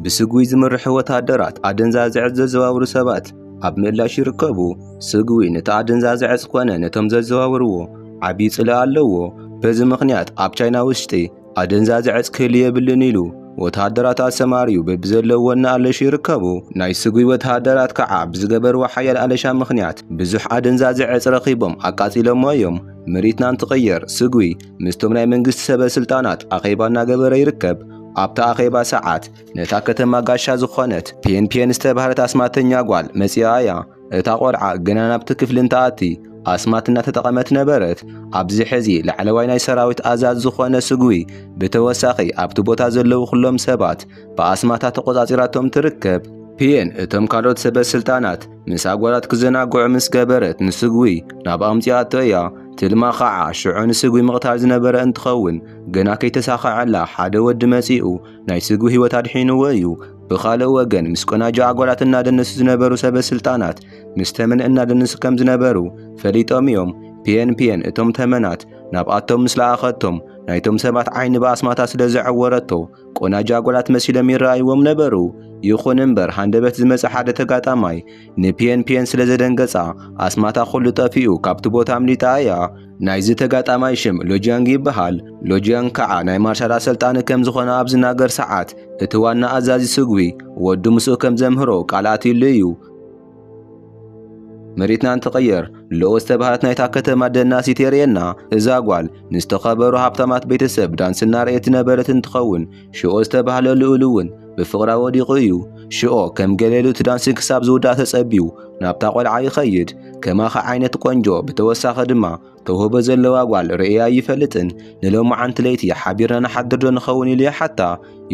ብስግዊ ዝምርሑ ወተሃደራት ኣደንዛዘ ዕፅ ዘዘዋውሩ ሰባት ኣብ ምላሽ ይርከቡ። ስግዊ ነቲ ኣደንዛዘ ዕፅ ኮነ ነቶም ዘዘዋውርዎ ዓብዪ ጽልኢ ኣለዎ። በዚ ምኽንያት ኣብ ቻይና ውሽጢ ኣደንዛዘ ዕፅ ክህሉ የብልን ኢሉ ወተሃደራት ኣሰማርዩ በብዘለዎ እናኣለሹ ይርከቡ። ናይ ስግዊ ወተሃደራት ከዓ ብዝገበርዎ ሓያል ኣለሻ ምኽንያት ብዙሕ ኣደንዛዘ ዕፅ ረኺቦም ኣቃፂሎሞ እዮም። ምርኢትና እንትቕየር ስግዊ ምስቶም ናይ መንግስቲ ሰበ ስልጣናት ኣኼባ እናገበረ ይርከብ። ኣብታ ኣኼባ ሰዓት ነታ ከተማ ጋሻ ዝኾነት ፔን ፔን ዝተባህለት ኣስማተኛ ጓል መጺኣ እያ። እታ ቆልዓ ግና ናብቲ ክፍሊ እንትኣቲ ኣስማት እናተጠቐመት ነበረት። ኣብዚ ሕዚ ላዕለዋይ ናይ ሰራዊት ኣዛዝ ዝኾነ ስጉዊ ብተወሳኺ ኣብቲ ቦታ ዘለዉ ኩሎም ሰባት ብኣስማታ ተቖጻጺራቶም ትርከብ። ፒኤን እቶም ካልኦት ሰበ ስልጣናት ምስ ኣጓላት ክዘናግዑ ምስ ገበረት ንስግዊ ናብ ኣምጺኣቶ እያ። ትልማ ኸዓ ሽዑ ንስግዊ ምቕታል ዝነበረ እንትኸውን ገና ከይተሳኸዐላ ሓደ ወዲ መጺኡ ናይ ስግዊ ህይወት ኣድሒንዎ እዩ። ብኻልእ ወገን ምስ ቆናጁ ኣጓላት እናደነሱ ዝነበሩ ሰበስልጣናት ምስ ተመን እናደነሱ ከም ዝነበሩ ፈሊጦም እዮም። ፒየን ፒየን እቶም ተመናት ናብኣቶም ምስ ለኣኸቶም ናይቶም ሰባት ዓይኒ ብኣስማታ ስለ ዘዐወረቶ ቆናጁ ኣጓላት መሲሎም ይረኣይዎም ነበሩ። ይኹን እምበር ሃንደበት ዝመጸ ሓደ ተጋጣማይ ንፒየን ፒየን ስለ ዘደንገጻ ኣስማታ ኩሉ ጠፊኡ ካብቲ ቦታ ኣምሊጣ እያ። ናይዚ ተጋጣማይ ሽም ሎጂያንግ ይበሃል። ሎጂያንግ ከዓ ናይ ማርሻል ኣሰልጣኒ ከም ዝኾነ ኣብ ዝናገር ሰዓት እቲ ዋና ኣዛዚ ስጉዊ ወዱ ምስኡ ከም ዘምህሮ ቃል ኣትዩሉ እዩ። መሬትና እንትቐየር ሎዎ ዝተባህለት ናይታ ከተማ ደናሲት የርእየና። እዛ ጓል ንዝተኸበሩ ሃብታማት ቤተሰብ ዳንሲ እናርኣየት ዝነበረት እንትኸውን ሽኦ ዝተባህለ ልኡል እውን ብፍቕራ ወዲቑ እዩ። ሽኦ ከም ገሌሉ እቲ ዳንሲ ክሳብ ዝውዳእ ተጸብዩ ናብታ ቆልዓ ይኸይድ። ከማኺ ዓይነት ቆንጆ ብተወሳኺ ድማ ተውህቦ ዘለዋ ጓል ርእየ ኣይፈልጥን። ንሎማዓንቲ ለይቲ ሓቢርና ንሓድር ዶ ንኸውን ኢሉ ይሓታ።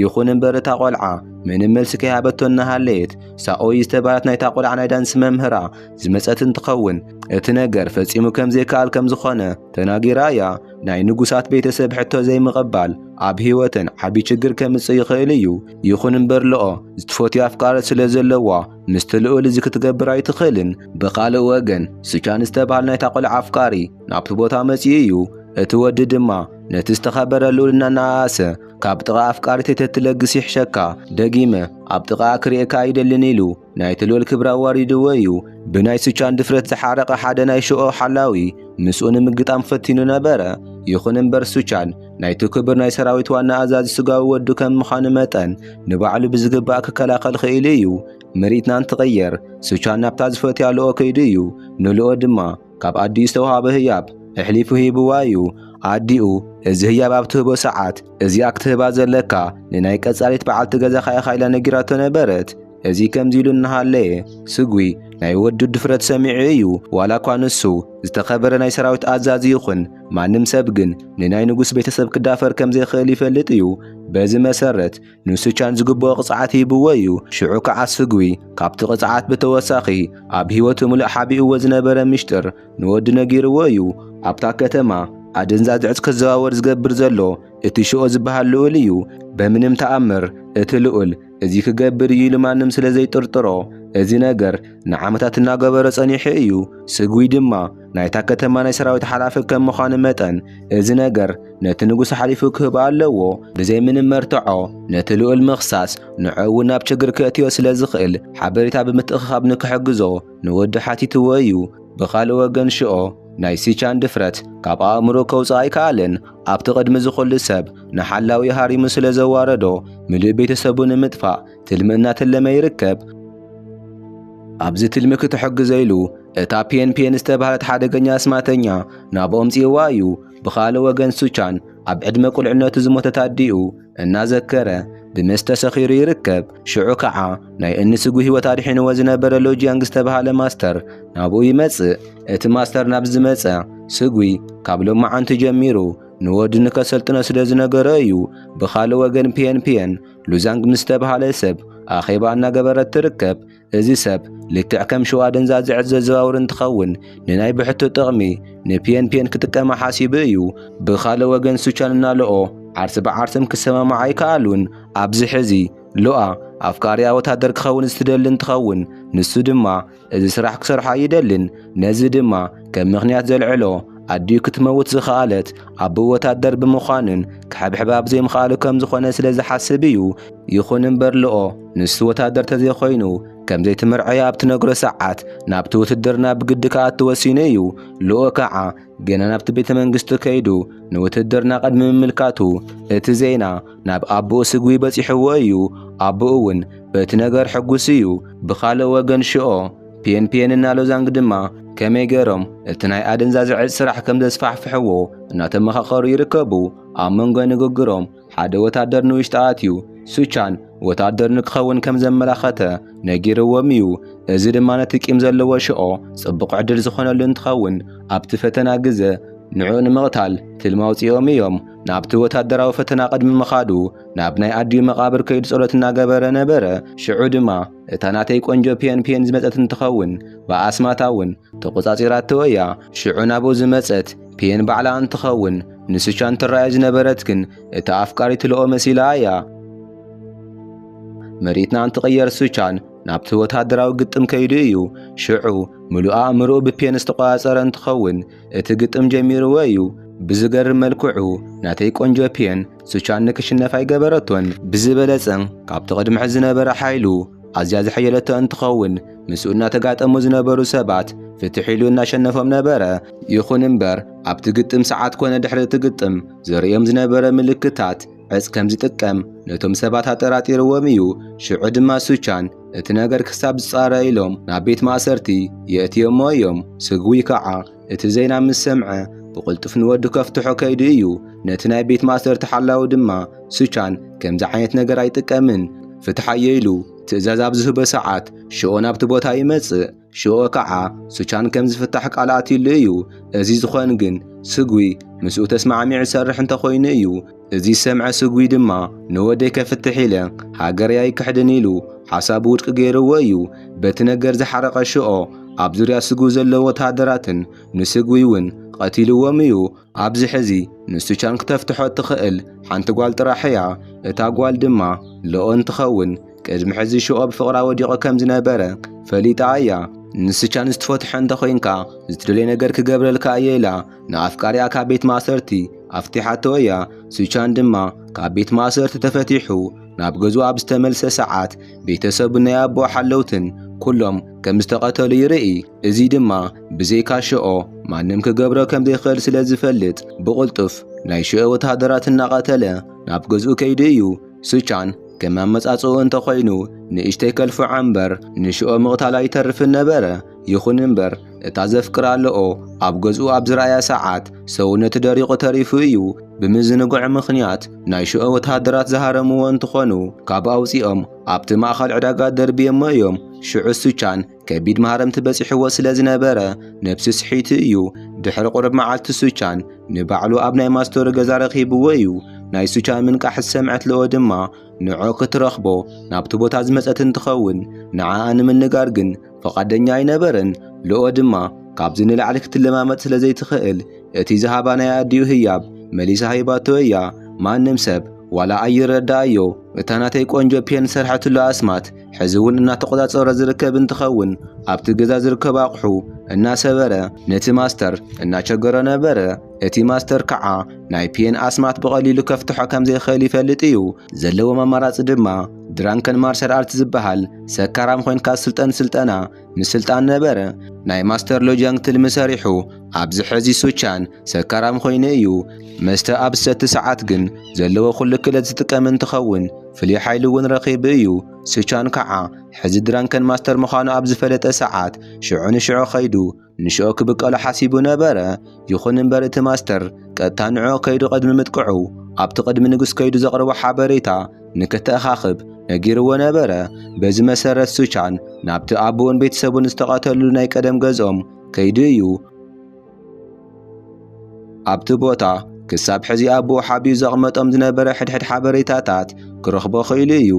ይኹን እምበር እታ ቆልዓ ምንም መልሲ ከይሃበቶ እናሃለየት ሳኦይ ዝተባህለት ናይታ ቆልዓ ናይ ዳንስ መምህራ ዝመጸት እንትኸውን እቲ ነገር ፈጺሙ ከም ዘይከኣል ከም ዝኾነ ተናጊራ እያ። ናይ ንጉሳት ቤተሰብ ሕቶ ዘይምቕባል ኣብ ህይወተን ዓቢ ችግር ከምጽእ ይኽእል እዩ። ይኹን እምበር ልኦ ዝትፈትዮ ኣፍቃሪ ስለ ዘለዋ ምስቲ ልኡል እዚ ክትገብር ኣይትኽእልን። ብኻልእ ወገን ስቻን ዝተባህል ናይታ ቆልዓ ኣፍቃሪ ናብቲ ቦታ መጺኡ እዩ። እቲ ወዲ ድማ ነቲ ዝተኸበረ ልኡል እናነኣኣሰ ካብ ጥቓ ኣፍቃሪተይ ተትለግስ ይሕሸካ፣ ደጊመ ኣብ ጥቓኣ ክርእየካ ኣይደልን ኢሉ ናይቲ ልኡል ክብሪ ኣዋሪድዎ እዩ። ብናይ ስቻን ድፍረት ዝሓረቐ ሓደ ናይ ሽኦ ሓላዊ ምስኡ ንምግጣም ፈቲኑ ነበረ። ይኹን እምበር ስቻን ናይቲ ክብር ናይ ሰራዊት ዋና ኣዛዚ ስጋዊ ወዱ ከም ምዃኑ መጠን ንባዕሉ ብዝግባእ ክከላኸል ኽኢሉ እዩ። ምርኢትና እንትቐየር ሱቻን ናብታ ዝፈትያ ልኦ ከይዱ እዩ። ንልኦ ድማ ካብ ኣዲኡ ዝተውሃበ ህያብ ኣሕሊፉ ሂብዋ እዩ። ኣዲኡ እዚ ህያብ ኣብ ትህቦ ሰዓት እዚኣ ክትህባ ዘለካ ንናይ ቀጻሊት በዓልቲ ገዛኻ ኢኻ ኢላ ነጊራቶ ነበረት። እዚ ከምዚ ኢሉ እናሃለየ ስግዊ ናይ ወዱ ድፍረት ሰሚዑ እዩ። ዋላ እኳ ንሱ ዝተኸበረ ናይ ሰራዊት ኣዛዚ ይኹን፣ ማንም ሰብ ግን ንናይ ንጉስ ቤተሰብ ክዳፈር ከም ዘይክእል ይፈልጥ እዩ። በዚ መሰረት ንሱቻን ዝግብኦ ቅጽዓት ሂብዎ እዩ። ሽዑ ከዓ ስግዊ ካብቲ ቅጽዓት ብተወሳኺ ኣብ ህይወቱ ምሉእ ሓቢእዎ ዝነበረ ሚሽጥር ንወዱ ነጊርዎ እዩ። ኣብታ ከተማ ኣደንዛዝ ዕፅ ክዘዋወር ዝገብር ዘሎ እቲ ሽኦ ዝበሃል ልኡል እዩ። በምንም ተኣምር እቲ ልኡል እዚ ክገብር እዩ ኢሉ ማንም ስለ ዘይጥርጥሮ እዚ ነገር ንዓመታት እናገበረ ጸኒሑ እዩ። ስጉይ ድማ ናይታ ከተማ ናይ ሰራዊት ሓላፊ ከም ምዃኑ መጠን እዚ ነገር ነቲ ንጉስ ሓሊፉ ክህብ ኣለዎ። ብዘይ ምንም መርትዖ ነቲ ልኡል ምኽሳስ ንዑ እውን ናብ ችግር ከእትዮ ስለ ዝኽእል ሓበሬታ ብምትእኽኻብ ንክሕግዞ ንወዱ ሓቲትዎ እዩ። ብኻልእ ወገን ሽኦ ናይ ሲቻን ድፍረት ካብ ኣእምሮኡ ከውጽእ ኣይከኣለን። ኣብቲ ቅድሚ እዚ ኹሉ ሰብ ንሓላዊ ሃሪሙ ስለ ዘዋረዶ ምሉእ ቤተሰቡ ንምጥፋእ ትልሚ እናተለመ ይርከብ። ኣብዚ ትልሚ ክትሕግዞ ኢሉ እታ ፒየን ፒየን ዝተባህለት ሓደገኛ ኣስማተኛ ናብኦም ጽይዋ እዩ። ብኻልእ ወገን ሱቻን ኣብ ዕድመ ቁልዕነቱ ዝሞተት ኣዲኡ፣ እናዘከረ ብመስተ ሰኺሩ ይርከብ። ሽዑ ከዓ ናይ እኒ ስጉ ህይወት ኣድሒንዎ ዝነበረ ሎጂያንግ ዝተብሃለ ማስተር ናብኡ ይመጽእ። እቲ ማስተር ናብ ዝመጸ ስጉይ ካብ ሎማዓንቲ ጀሚሩ ንወዱ ንከሰልጥኖ ስለ ዝነገሮ እዩ። ብኻልእ ወገን ፒየን ፒየን ሉዛንግ ምስ ዝተብሃለ ሰብ ኣኼባ እናገበረት ትርከብ። እዚ ሰብ ልክዕ ከም ሽዋ ደንዛዝዐት ዘዘዋውር እንትኸውን ንናይ ብሕቱ ጥቕሚ ንፒኤንፒኤን ክጥቀማ ሓሲቡ እዩ። ብኻልእ ወገን ሱቻን እና ሎኦ ዓርስ ብዓርስም ክሰማማዓ ኣይከኣሉን። ኣብዚ ሕዚ ሎኣ ኣፍቃሪኣ ወታደር ክኸውን ዝትደሊ እንትኸውን ንሱ ድማ እዚ ስራሕ ክሰርሖ ኣይደልን። ነዚ ድማ ከም ምክንያት ዘልዕሎ ኣዲኡ ክትመውት ዝኸኣለት ኣቦኡ ወታደር ብምዃኑን ክሕብሕባ ብዘይምኽኣሉ ከም ዝኾነ ስለ ዝሓስብ እዩ። ይኹን እምበር ልኦ ንሱ ወታደር ተዘይኮይኑ ከም ዘይትምርዐዮ ኣብ ትነግሮ ሰዓት ናብቲ ውትድርና ብግዲ ክኣቱ ወሲኑ እዩ። ልኦ ከዓ ገና ናብቲ ቤተ መንግስቱ ከይዱ ንውትድርና ቅድሚ ምምልካቱ እቲ ዜና ናብ ኣቦኡ ስጉይ በፂሕዎ እዩ። ኣቦኡ እውን በቲ ነገር ሕጉስ እዩ። ብኻልእ ወገን ሽኦ ፒየንፒየን እና ሎዛንግ ድማ ከመይ ገይሮም እቲ ናይ ኣደንዛዘ ዕፅ ስራሕ ከም ዘስፋሕፍሕዎ እናተመኻኸሩ ይርከቡ። ኣብ መንጎ ንግግሮም ሓደ ወታደር ንውሽጢ ኣትዩ ሱቻን ወታደር ንክኸውን ከም ዘመላኸተ ነጊርዎም እዩ። እዚ ድማ ነቲ ቂም ዘለዎ ሽኦ ጽቡቕ ዕድል ዝኾነሉ እንትኸውን ኣብቲ ፈተና ግዘ ንዑ ንምቕታል ትልሚ ኣውጺኦም እዮም። ናብቲ ወታደራዊ ፈተና ቅድሚ ምኻዱ ናብ ናይ ኣዲኡ መቓብር ከይዱ ጸሎት እናገበረ ነበረ። ሽዑ ድማ እታ ናተይ ቆንጆ ፒየን ፒየን ዝመጸት እንትኸውን ብኣስማታ እውን ተቖጻጺራቶ እያ። ሽዑ ናብኡ ዝመጸት ፔን ባዕላ እንትኸውን ንሱቻን ትራዮ ዝነበረት ግን እቲ ኣፍቃሪ ትልኦ መሲላ እያ። መሬትና እንትቕየር ሱቻን ናብቲ ወተሃደራዊ ግጥም ከይዱ እዩ። ሽዑ ምሉእ ኣእምሮኡ ብፔን ዝተቆጻጸረ እንትኸውን እቲ ግጥም ጀሚርዎ እዩ። ብዝገርም መልክዑ ናተይ ቆንጆ ፔን ሱቻን ንክሽነፍ ኣይገበረቶን። ብዝበለጸ ካብቲ ቅድሚ ሕዚ ዝነበረ ሓይሉ ኣዝያ ዘሐየለቶ እንትኸውን ምስኡ እናተጋጠሙ ዝነበሩ ሰባት ፍትሕ ኢሉ እናሸነፎም ነበረ። ይኹን እምበር ኣብቲ ግጥም ሰዓት ኮነ ድሕሪ እቲ ግጥም ዘርእዮም ዝነበረ ምልክታት ዕጽ ከም ዝጥቀም ነቶም ሰባት ኣጠራጢርዎም እዩ። ሽዑ ድማ ሱቻን እቲ ነገር ክሳብ ዝጻረ ኢሎም ናብ ቤት ማእሰርቲ የእትዮሞ እዮም። ስግዊ ከዓ እቲ ዜና ምስ ሰምዐ ብቕልጡፍ ንወዱ ከፍትሖ ከይዱ እዩ። ነቲ ናይ ቤት ማእሰርቲ ሓላዊ ድማ ሱቻን ከምዚ ዓይነት ነገር ኣይጥቀምን ፍትሓዮ ኢሉ ትእዛዝ ኣብ ዝህቦ ሰዓት ሽኦ ናብቲ ቦታ ይመጽእ። ሽኦ ከዓ ሱቻን ከም ዝፍታሕ ቃል ኣትዩሉ እዩ። እዚ ዝኾን ግን ስጉይ ምስኡ ተስማዕሚዑ ዝሰርሕ እንተኾይኑ እዩ። እዚ ዝሰምዐ ስጉይ ድማ ንወደይ ከፍትሕ ኢለ ሃገረይ ኣይክሕድን ኢሉ ሓሳቡ ውድቂ ገይርዎ እዩ። በቲ ነገር ዝሓረቐ ሽኦ ኣብ ዙርያ ስጉይ ዘለዉ ወተሃደራትን ንስጉይ እውን ቐቲልዎም እዩ። ኣብዚ ሕዚ ንሱቻን ክተፍትሖ እትኸእል ሓንቲ ጓል ጥራሕ እያ። እታ ጓል ድማ ሎኦ እንትኸውን ቅድሚ ሕዚ ሽኦ ብፍቕራ ወዲቑ ከም ዝነበረ ፈሊጣ እያ። ንስቻን ዝትፈትሖ እንተኾይንካ ዝትደልዮ ነገር ክገብረልካ እየ ኢላ። ንኣፍቃሪኣ ካብ ቤት ማእሰርቲ ኣፍቲሓቶ እያ። ሱቻን ድማ ካብ ቤት ማእሰርቲ ተፈቲሑ ናብ ገዝኡ ኣብ ዝተመልሰ ሰዓት ቤተሰቡን ናይ ኣቦ ሓለውትን ኩሎም ከም ዝተቐተሉ ይርኢ። እዚ ድማ ብዘይካ ሽኦ ማንም ክገብሮ ከም ዘይክእል ስለ ዝፈልጥ ብቕልጡፍ ናይ ሽኦ ወተሃደራት እናቐተለ ናብ ገዝኡ ከይዱ እዩ። ሱቻን ከም ኣመጻጽኡ እንተኾይኑ ንእሽተይ ከልፍዖ እምበር ንሽኦ ምቕታሉ ኣይተርፍን ነበረ። ይኹን እምበር እታ ዘፍቅራ ኣለኦ ኣብ ገዝኡ ኣብ ዝረኣያ ሰዓት ሰውነቱ ደሪቑ ተሪፉ እዩ። ብምዝንግዑ ምኽንያት ናይ ሽኦ ወተሃደራት ዝሃረምዎ እንትኾኑ ካብ ኣውፂኦም ኣብቲ ማእኸል ዕዳጋ ደርብየሞ እዮም። ሽዑ ሱቻን ከቢድ ማህረምቲ በፂሕዎ ስለ ዝነበረ ነብሱ ስሒቱ እዩ። ድሕሪ ቁርብ መዓልቲ ሱቻን ንባዕሉ ኣብ ናይ ማስቶሪ ገዛ ረኺብዎ እዩ። ናይ ሱቻን ምንቃሕ ዝሰምዐት ልኦ ድማ ንዖ ክትረኽቦ ናብቲ ቦታ ዝመፀት እንትኸውን ንዓኣ ንምንጋር ግን ፍቓደኛ ኣይነበረን። ሎኦ ድማ ካብዚ ንላዕሊ ክትለማመጥ ስለ ዘይትኽእል እቲ ዝሃባ ናይ ኣዲኡ ህያብ መሊሳ ሂባቶ እያ። ማንም ሰብ ዋላ ኣይረዳኣዮ እታ ናተይ ቆንጆ ፔን ዝሰርሐትሉ ኣስማት ሕዚ እውን እናተቖጻጸሮ ዝርከብ እንትኸውን ኣብቲ ገዛ ዝርከቡ ኣቑሑ እናሰበረ ነቲ ማስተር እናቸገሮ ነበረ። እቲ ማስተር ከዓ ናይ ፔን ኣስማት ብቐሊሉ ከፍትሖ ከም ዘይኽእል ይፈልጥ እዩ። ዘለዎም ኣማራጺ ድማ ድራንከን ማርሻል ኣርት ዝበሃል ሰካራም ኮንካ ስልጠን ስልጠና ምስልጣን ነበረ። ናይ ማስተር ሎጃንግ ትልሚ ሰሪሑ ኣብዚ ሕዚ ሱቻን ሰካራም ኮይኑ እዩ። መስተ ኣብ ዝሰቲ ሰዓት ግን ዘለዎ ኩሉ ክእለት ዝጥቀም እንትኸውን ፍሉይ ሓይሊ እውን ረኺቡ እዩ። ሱቻን ከዓ ሕዚ ድራንከን ማስተር ምዃኑ ኣብ ዝፈለጠ ሰዓት ሽዑ ንሽዑ ከይዱ ንሽኦ ክብቀሎ ሓሲቡ ነበረ። ይኹን እምበር እቲ ማስተር ቀጥታ ንዕኦ ከይዱ ቅድሚ ምጥቅዑ ኣብቲ ቅድሚ ንጉስ ከይዱ ዘቕርቦ ሓበሬታ ንክተኣኻኽብ ነጊርዎ ነበረ። በዚ መሰረት ሱቻን ናብቲ ኣቦኡን ቤተሰቡን ዝተቐተልሉ ናይ ቀደም ገዝኦም ከይዱ እዩ። ኣብቲ ቦታ ክሳብ ሕዚ ኣቦ ሓቢኡ ዘቕመጦም ዝነበረ ሕድሕድ ሓበሬታታት ክረኽቦ ኽኢሉ እዩ።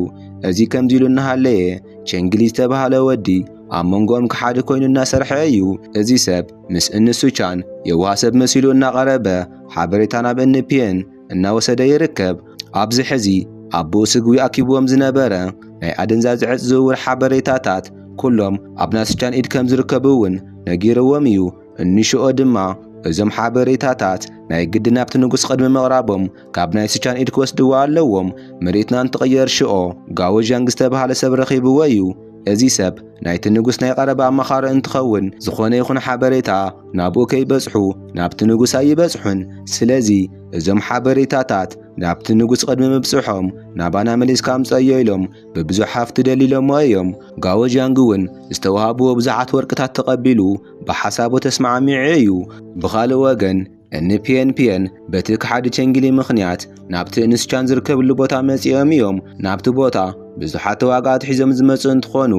እዚ ከምዚ ኢሉ እናሃለየ ቸንግሊ ዝተባህለ ወዲ ኣብ መንጎኦም ክሓዲ ኮይኑ እናሰርሐ እዩ። እዚ ሰብ ምስ እኒ ሱቻን የዋህ ሰብ መሲሉ እናቐረበ ሓበሬታ ናብ እኒ ፒየን እናወሰደ ይርከብ። ኣብዚ ሕዚ ኣቦኡ ስግዊ ኣኪብዎም ዝነበረ ናይ ኣደንዛዝ ዕፅ ዝውውር ሓበሬታታት ኩሎም ኣብ ናይ ሱቻን ኢድ ከም ዝርከቡ እውን ነጊርዎም እዩ። እንሽኦ ድማ እዞም ሓበሬታታት ናይ ግዲ ናብቲ ንጉስ ቅድሚ ምቕራቦም ካብ ናይ ስቻን ኢድ ክወስድዎ ኣለዎም። መሬትና እንትቕየር ሽኦ ጋዎዣንግ ዝተብሃለ ሰብ ረኺብዎ እዩ። እዚ ሰብ ናይቲ ንጉስ ናይ ቀረባ ኣማኻሪ እንትኸውን ዝኾነ ይኹን ሓበሬታ ናብኡ ከይበጽሑ ናብቲ ንጉስ ኣይበጽሑን። ስለዚ እዞም ሓበሬታታት ናብቲ ንጉስ ቅድሚ ምብጽሖም ናባና መሊስካ ኣምጽኣዮ ኢሎም ብብዙሕ ሃፍቲ ደሊሎሞ እዮም። ጋዎዣንግ እውን ዝተዋህብዎ ብዙሓት ወርቅታት ተቐቢሉ ብሓሳቡ ተስማዕሚዑ እዩ። ብኻልእ ወገን እኒ ፒየን ፒየን በቲ ከሓዲ ቸንጊሊ ምኽንያት ናብቲ እንስቻን ዝርከብሉ ቦታ መጺኦም እዮም። ናብቲ ቦታ ብዙሓት ተዋጋእቲ ሒዞም ዝመጹ እንትኾኑ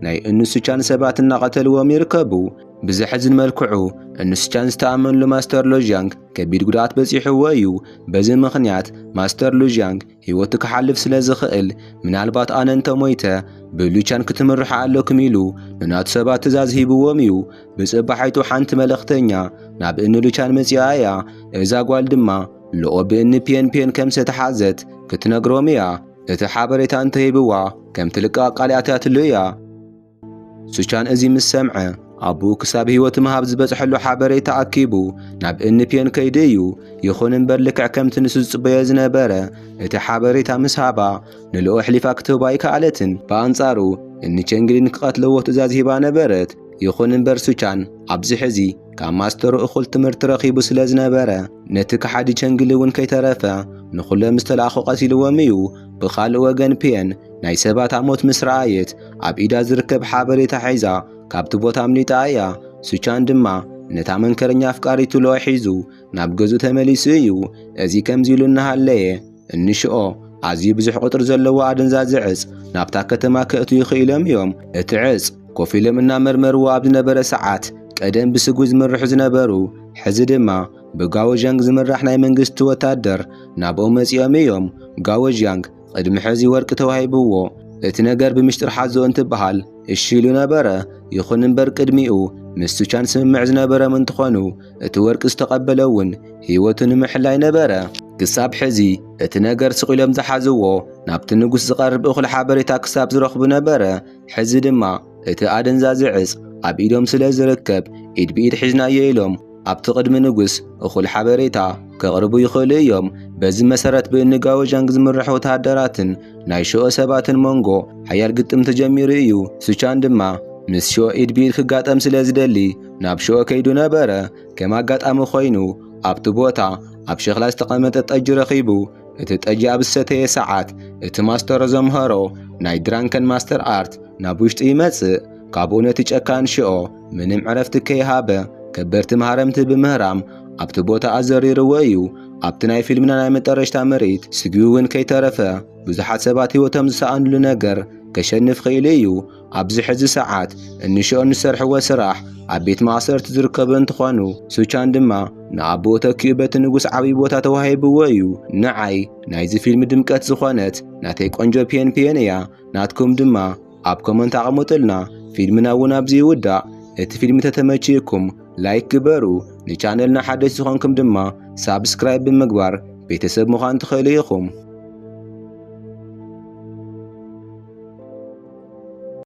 ናይ እንስቻን ሰባት እናቐተልዎም ይርከቡ። ብዘሕዝን መልክዑ እንስቻን ዝተኣመንሉ ማስተር ሉዥያንግ ከቢድ ጉድኣት በጺሕዎ እዩ። በዚ ምኽንያት ማስተር ሉዥያንግ ህይወቱ ክሓልፍ ስለ ዝኽእል ምናልባት ኣነ እንተ ሞይተ ብሉቻን ክትምርሑ ኣለኩም ኢሉ ንናቱ ሰባት ትእዛዝ ሂብዎም እዩ። ብጽባሒቱ ሓንቲ መልእኽተኛ ናብ እኒ ሉቻን መጺኣ እያ። እዛ ጓል ድማ ሎኦ ብእኒ ፒየን ፒየን ከም ዝተታሕዘት ክትነግሮም እያ። እቲ ሓበሬታ እንተ ሂብዋ ከም ትልቀቕ ቃል ኣትያትሉ እያ። ሱቻን እዚ ምስ ሰምዐ ኣቦኡ ክሳብ ህይወት ምሃብ ዝበጽሐሉ ሓበሬታ ኣኪቡ ናብ እንፒዮን ከይዲ እዩ። ይኹን እምበር ልክዕ ከምቲ ንሱ ዝጽበዮ ዝነበረ እቲ ሓበሬታ ምስ ሃባ ንልኦ ኣሕሊፋ ክትህባ ኣይከኣለትን። ብኣንጻሩ እንቸንግሊን ክቐትለዎ ትእዛዝ ሂባ ነበረት። ይኹን እምበር ሱቻን ኣብዚ ሕዚ ካብ ማስተሩ እኹል ትምህርቲ ረኺቡ ስለ ዝነበረ ነቲ ከሓዲ ቸንግሊ እውን ከይተረፈ ንኹሎም ዝተላእኹ ቀቲልዎም እዩ። ብኻልእ ወገን ፒየን ናይ ሰባት ኣሞት ምስ ረኣየት ኣብ ኢዳ ዝርከብ ሓበሬታ ሒዛ ካብቲ ቦታ ኣምሊጣ እያ። ሱቻን ድማ ነታ መንከረኛ ኣፍቃሪቱ ሎኣ ሒዙ ናብ ገዙ ተመሊሱ እዩ። እዚ ከምዚ ኢሉ እናሃለየ እንሽኦ ኣዝዩ ብዙሕ ቁጥሪ ዘለዎ ኣደንዛዚ ዕጽ ናብታ ከተማ ከእቱ ይኽኢሎም እዮም። እቲ ዕጽ ኮፍ ኢሎም እናመርመርዎ ኣብ ዝነበረ ሰዓት ቀደም ብስጉ ዝምርሑ ዝነበሩ ሕዚ ድማ ብጋወ ዣንግ ዝምራሕ ናይ መንግስቲ ወታደር ናብኦም መጺኦም እዮም። ጋወ ዣንግ ቕድሚ ሕዚ ወርቂ ተዋሂብዎ እቲ ነገር ብምሽጥር ሓዞ እንትበሃል እሺ ኢሉ ነበረ። ይኹን እምበር ቅድሚኡ ምስ ሱቻን ስምምዕ ዝነበረም እንትኾኑ እቲ ወርቂ ዝተቐበለ እውን ህይወቱ ንምሕላይ ነበረ። ክሳብ ሕዚ እቲ ነገር ስቕ ኢሎም ዝሓዝዎ ናብቲ ንጉስ ዝቐርብ እኹል ሓበሬታ ክሳብ ዝረኽቡ ነበረ። ሕዚ ድማ እቲ ኣደንዛዚ ዕፅ ኣብ ኢዶም ስለ ዝርከብ ኢድ ብኢድ ሒዝናዮ ኢሎም። ኣብቲ ቅድሚ ንጉስ እኹል ሓበሬታ ከቕርቡ ይኽእሉ እዮም። በዚ መሰረት ብእንጋወዣንግ ዝምራሕ ወተሃደራትን ናይ ሸኦ ሰባትን መንጎ ሓያል ግጥም ተጀሚሩ እዩ። ሱቻን ድማ ምስ ሸኦ ኢድ ብኢድ ክጋጠም ስለ ዝደሊ ናብ ሸኦ ከይዱ ነበረ። ከም ኣጋጣሚ ኮይኑ ኣብቲ ቦታ ኣብ ሸኽላ ዝተቐመጠ ጠጅ ረኺቡ። እቲ ጠጅ ኣብ ዝሰተየ ሰዓት እቲ ማስተሮ ዘምሀሮ ናይ ድራንከን ማስተር ኣርት ናብ ውሽጢ ይመጽእ። ካብኡ ነቲ ጨካን ሸኦ ምንም ዕረፍቲ ከይሃበ ከበድቲ መሃረምቲ ብምህራም ኣብቲ ቦታ ኣዘሪርዎ እዩ። ኣብቲ ናይ ፊልምና ናይ መጠረሽታ ምርኢት ስግቢ እውን ከይተረፈ ብዙሓት ሰባት ህይወቶም ዝሰኣንሉ ነገር ከሸንፍ ኽኢሉ እዩ። ኣብዚ ሕዚ ሰዓት እንሽኦ ንዝሰርሕዎ ስራሕ ኣብ ቤት ማእሰርቲ ዝርከቡ እንትኾኑ ሱቻን ድማ ንኣቦኡ ተኪኡ በቲ ንጉስ ዓብይ ቦታ ተዋሂብዎ እዩ። ንዓይ ናይዚ ፊልም ድምቀት ዝኾነት ናተይ ቆንጆ ፒየን ፒየን እያ። ናትኩም ድማ ኣብ ኮመንት ኣቐሙጥልና ፊልምና እውን ኣብዚ ይውዳእ እቲ ፊልም ተተመችዩኩም ላይክ ግበሩ ንቻነልና ሓደሽ ዝኾንኩም ድማ ሳብስክራይብ ብምግባር ቤተሰብ ምዃን ትኽእሉ ኢኹም